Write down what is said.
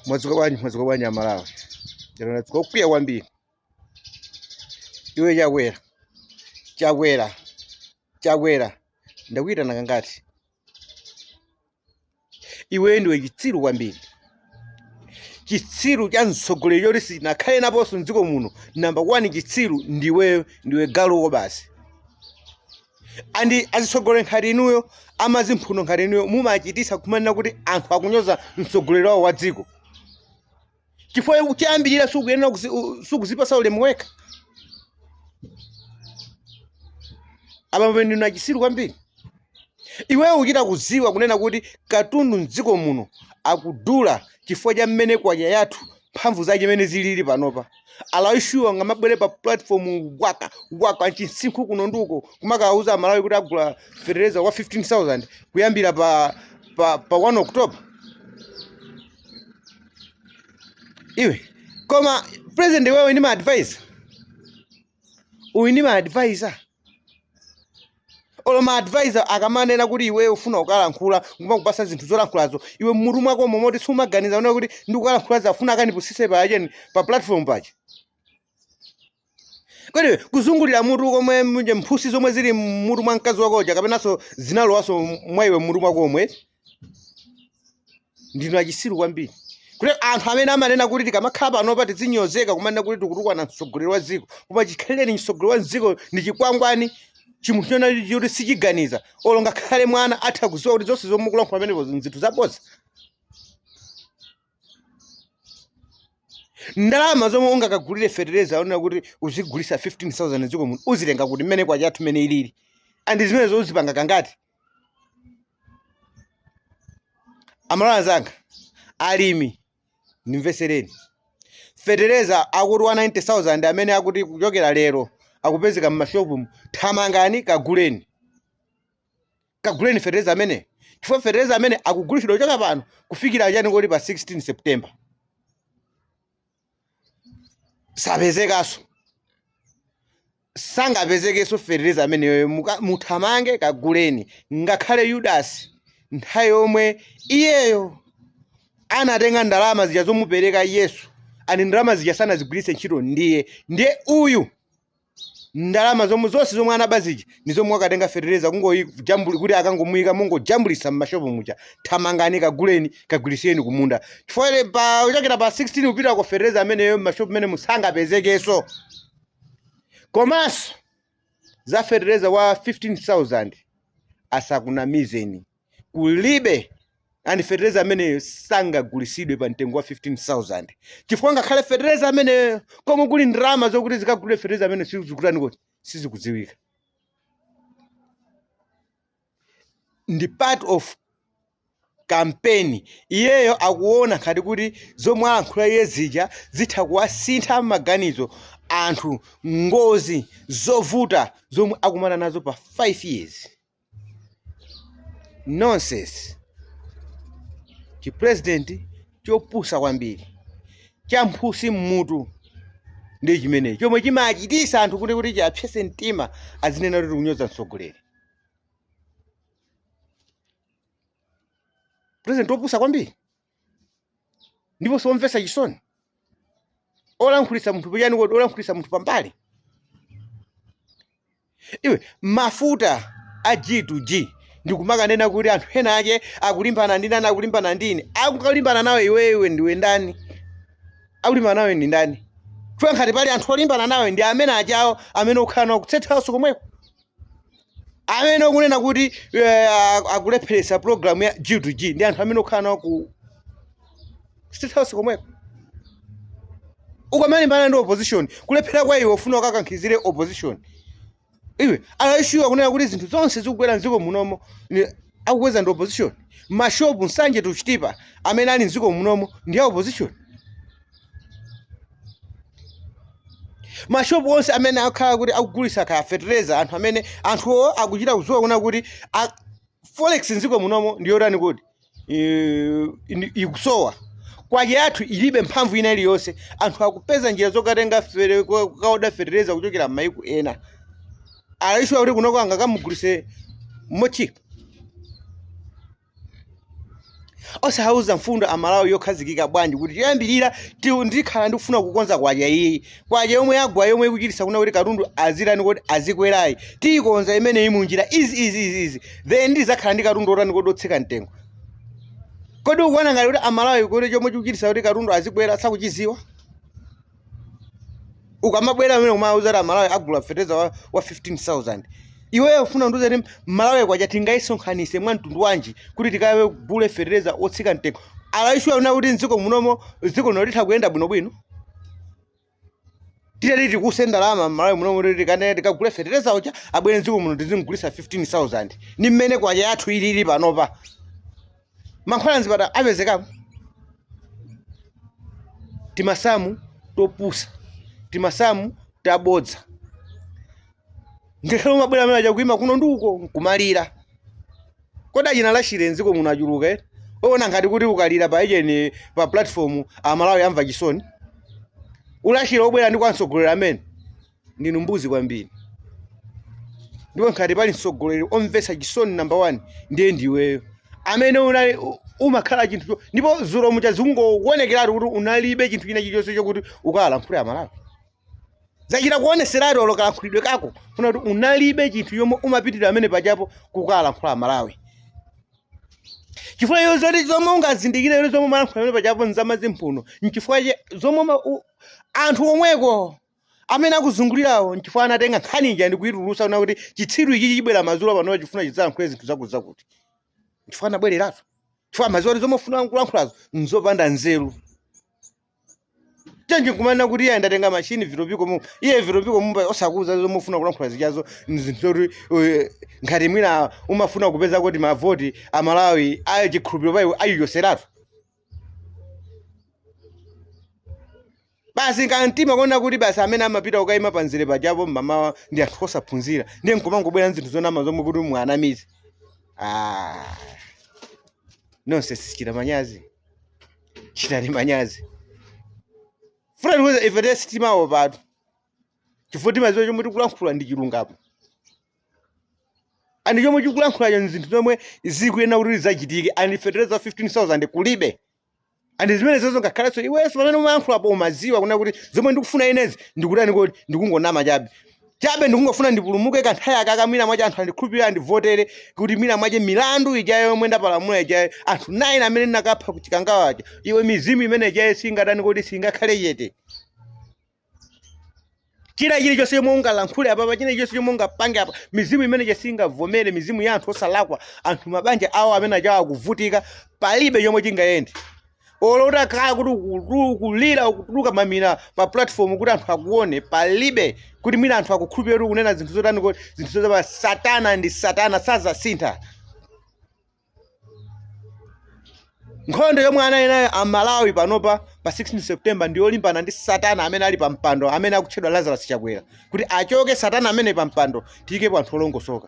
mwadzuka bwanji mwadzuka bwanji amalawi lero ndadzuka wokwiya kwambiri iwe chakwera chakwera chakwera ndakuyitana kangati iwe ndiwe chitsiru kwambiri chitsiru cha mtsogoleri choti sichinakhaleponso mdziko muno namba 1 chitsiru ndiwe ndiwe galu ko basi and azitsogoleri nkhati inuyo amazimphuno nkhati inuyo mumachitisa kumanena kuti anthu akunyoza mtsogoleri wawo wa dziko chifukwa choyambirira sukuyenera kuzi- u- sukuzipasa ulemu wekha apa pamene ndinu achisiru kwambiri iweyo kuchita kuziwa kunena kuti katundu mdziko muno akudula chifukwa cha mmene kwacha yathu mphamvu zake mmene zilili panopa are you sure ungamabwere pa platform waka waka chimsinkhu kunonduko kumakawuza amalawi kuti agula fertilizer wa 15000 kuyambira pa pa, pa 1 october iwe koma president iweyo ndi ma advisor uyu ndi maadvisor olo maadvisor akamanena kuti iweyo ufuna kukalankhula nkumakupasa zinthu zolankhulazo iwe mmutu mwako momoti sumaganiza kunena kuti ndikukalankhula za afuna akandipusise pa ujeni pa platform paja kodi kuzungulira mutu komwe mphutsi zomwe zili mmutu mwa mkazi wako uja kapenanso zinalowaso mwa iwe mmutu mwako omwe ndinu achisiru kwambiri kuti anthu amene amanena kuti tikamakhala panopa tizinyozeka kumanena kuti tikutukwana mtsogoleri wa dziko koma chikhalirenicho mtsogoleri wa dziko ndi chikwangwani chimunthu chona choti sichiganiza olo ngakhale mwana atha kuziwa kuti zonse zomwe mukulankhula pamenepo nzinthu zabodza ndalama zomwe ungakagulire fetereza wonena kuti uzigulisa 15000 dziko muno uzitenga kuti mmene kwacha yathu mmene ilili and zimenezo uzipanga kangati amalawi anzanga alimi ndimvesereni fetereza akuti wa 90000 amene akuti kuchokera lero akupezeka mmashopumu thamangani kaguleni kaguleni fetereza amene chifukwa fetereza amene akugulitsidwa kuchoka pano kufikira chakuti pa 16 september sapezekanso sangapezekenso fetereza ameneyoyo muka- muthamange kaguleni ngakhale yudasi nthawi yomwe iyeyo anatenga ndalama zija zomupereka yesu and ndalama zija sanazigwiritse ntchito ndiye ndiye uyu ndalama zomwe zonse zomwe anaba zija ndi zomwe wakatengera fetereza kungojambuli kuti akangomuyika mungojambulisa mmashopu muja thamangani kaguleni kagwirisireni kumunda chifukwa ile pa kuchokera pa 16 kupita uko fetereza ameneyo mmashopu menemu sangapezekenso komanso za fetereza wa 15000 asakunamizeni kulibe ndipo fetereza ameneyo sangagulisidwe pa mtengo wa 15000 chifukwa ngakhale fetereza ameneyo komwe kuli ndalama zokuti zikagulire fetereza ameneyo sizikutani kodi sizikudziwika ndi part of campaign iyeyo akuona ngati kuti zomwe alankhula iye zija zitha kuwasintha maganizo anthu ngozi zovuta zomwe akumana nazo pa 5 years nonsense chi president chopusa kwambiri cha mphutsi mmutu ndi chimenechi chomwe chimachitisa anthu kuti kuti chiapsese mtima azinena kuti tikunyoza mtsogoleri president wopusa kwambiri ndipo nsomvetsa chisoni olankhulitsa munthu pachiyani kodi olankhulitsa munthu pambali iwe mafuta a G to G ndikumakanena kuti anthu ena ake akulimbana ndi ndani akulimbana ndi ine angalimbane nawe iweyo ndiwe ndani akulimbana nawe ndi ndani chifukwa ngati pali anthu olimbana nawe ndi amene achabewo amene ukhala nawo ku state house komweko amene akunena kuti eh, a- akulepheretsa program ya G to G ndi anthu amene ukhala nawo ku state house komweko ukamalimbana ndi opposition kulephera kwa iwe ufuna ukakankhizire opposition iwe are you sure akunena kuti zinthu zonse zikugwera mdziko munomo ni- akukweza ndi opposition mmashopu nsanje tuchitipa amene ali mdziko munomo ndi a opposition mashopu onse amene akhala kuti akugulitsa kaya fetereza anthu amene anthuwo akuchita kudziwa kunena kuti a- forex mdziko munomo ndi yotani kuti eh, ndi- ikusowa kwacha yathu ilibe mphamvu ina iliyonse anthu akupeza njira zokatengera fere- ko- kokaoda fetereza kuchokera m'mayiko ena are you sure kuti kunoko angakamugulise mochipa osawauza mfundo amalawi yokhazikika bwanji kuti choyambirira ti- ndikhala ndikufuna kukonza kwacha iyi kwacha yomwe yagwa yomwe ikuchitisa kunena kuti katundu azitani kodi azikwerayi tiyikonza imeneyi munjira izi izi izi izi then ndizakhala ndi katundu otani kodi otsika mtengo kodi ukuona ngati kuti amalawi kuti chomwe chikuchitisa kuti katundu azikwera sakuchiziwa ukamabwera apa nkumawauza kuti amalawi agula fetereza wa, wa 15000 iweyo ufuna undiuze kuti malawi kwacha tingayisonkhanise mwa mtundu wanji kuti tikagule fetereza otsika mtengo are you sure kunena kuti mdziko munomo dziko lino litha kuyenda bwinobwino titati tikutse ndalama mmalawi munomo kuti tikane tikagule fetereza uja abwere mdziko muno tizimgulisa 15000 ni mmene kwacha yathu ilili panopa mankhwala mzipatala apezekapo timasamu topusa timasamu tabodza ngakhale umabwera amene paja kuima kuno ndi uko nkumalira kodi achina lachire mdziko muno achuluka eti uona ngati kuti ukalira pa ujeni pa platform amalawi akumva chisoni ulachire obwera ndi kwa mtsogoleri amene ndinu mbuzi kwambiri ndipo ngati pali mtsogoleri omvetsa chisoni namba 1 ndiye ndiweyo amene unali u- umakhala chinthu cho- ndipo zulo muja zikungowonekeratu kuti unalibe chinthu china chilichonse chokuti ukawalankhule amalawi zachita kuoneseratu olo kalankhulidwe kako kunena kuti unalibe chinthu chomwe umapitira pamene pajapo kukawalankhula amalawi chifukwa iyo zoti zomwe ungazindikire yoti zomwe umalankhula pamene pajapo nzamadzi mphuno nchifukwa che- zomwe ma- u- anthu omweko amene akuzungulirawo nchifukwa anatenga nkhani ija ndi kuitulusa kunena kuti chitsiru ichi chibwera madzulo pano chifuna chidzalankhule zinthu zakuza kuti nchifukwa anabwereratu chifukwa amaziwa kuti zomwe ufuna kulankhulazo nzopanda nzeru bwanji nkumanena kuti iye ndatenga mashini vitopiko mu iye vitopiko mu osakuza zomwe ufuna kulankhula zijazo nzinthu zoti eh, ngati mwina umafuna kupeza kuti mavoti amalawi ayo chikhulupiriro paiwe ayichoseratu basi kamtima kuona kuti basi amene amapita kukaima panzere pajapo mmamawa ndi anthu osaphunzira ndiye nkumangobwera nzinthu zonama zomwe kuti muwanamize ah. nonse simuchita manyazi chitani manyazi fulani kuza ife te sitimawo patu chifukwa timaziwa chomwe tikulankhula ndi chilungamo and chomwe tikulankhulacho nzinthu zomwe zikuyenera kuti zizachitike and fertilizer 15000 kulibe and zimene zozo ngakhalenso iwenso pamene umayankhulapo umaziwa kunena kuti zomwe ndikufuna inezi ndikutani kodi ndikungonama chabe chabe ndikungofuna ndipulumuke kanthawi akaka mwina mwache anthu andikhulupirire andivotere kuti mwina mwache milandu ijayo yomwe ndapalamula ijayo anthu 9 amene ndinakapha ku chikangawa aja iwe mizimu imene ijayo singatani kodi singakhale chete china chilichonse chomwe ungalankhule apapa china chilichonse chomwe ungapange apa mizimu imene ija singavomere mizimu ya anthu osalakwa anthu mabanja awo amene ajawo akuvutika palibe chomwe chingayende olo utakhala kuti ukulu- ukulira ukutuluka mamina pa platform kuti anthu akuone palibe kuti mwina anthu akukhulupirira kuti ukunena zinthu zotani kuti zinthu zotapa satana ndi satana sazasintha nkhondo yomwe ali nayo amalawi panopa pa 16 september ndi yolimbana ndi satana amene ali pa mpando amene akutchedwa lazarus chakwera kuti achoke satana ameneyu pa mpando tiyikepo anthu olongosoka